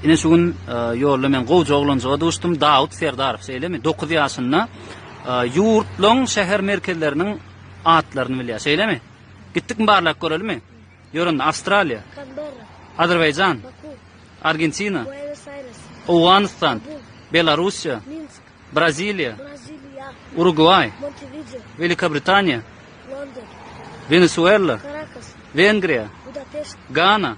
Ine şu gün ýolda men gowja oglanjyga duşdum, Dawut Serdarow, şeýlemi? Dokuz ýaşynda ýurtlaň şäher merkezleriniň atlaryny bilýär, şeýlemi? Gitdikmi barlap görelimi? Ýör onda, Awstraliýa. Kanberra. Azerbaýjan. Baku. Argentina. Buenos Aires. Owganystan. Belarussiýa. Minsk. Braziliýa. Braziliýa. Urugwaý. Montevideo. Welikä Britaniýa. London. Wenesuela. Karakas. Wengriýa. Budapeşt. Gana.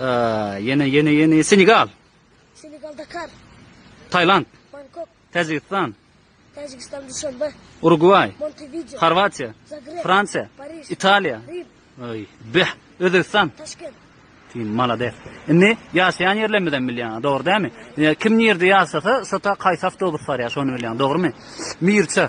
Aaa ýene ýene ýene Senegal. Senegal Dakar. Tailand. Bangkok. Täjigistan. Täjigistan Duşanbe. Urugway. Montevideo. Horwatiýa. Zagreb. Fransiýa. Paris. Italiýa. Rim. Oý, beh, Özbegistan. Taşkent. Sen malades. Indi ýaşaýan ýerlerimizi hem bilýän, dogry dämi? Kim nirde ýaşasa, şota kaýsy awtobus barýar, şony bilýän, dogrymy? Mirçe.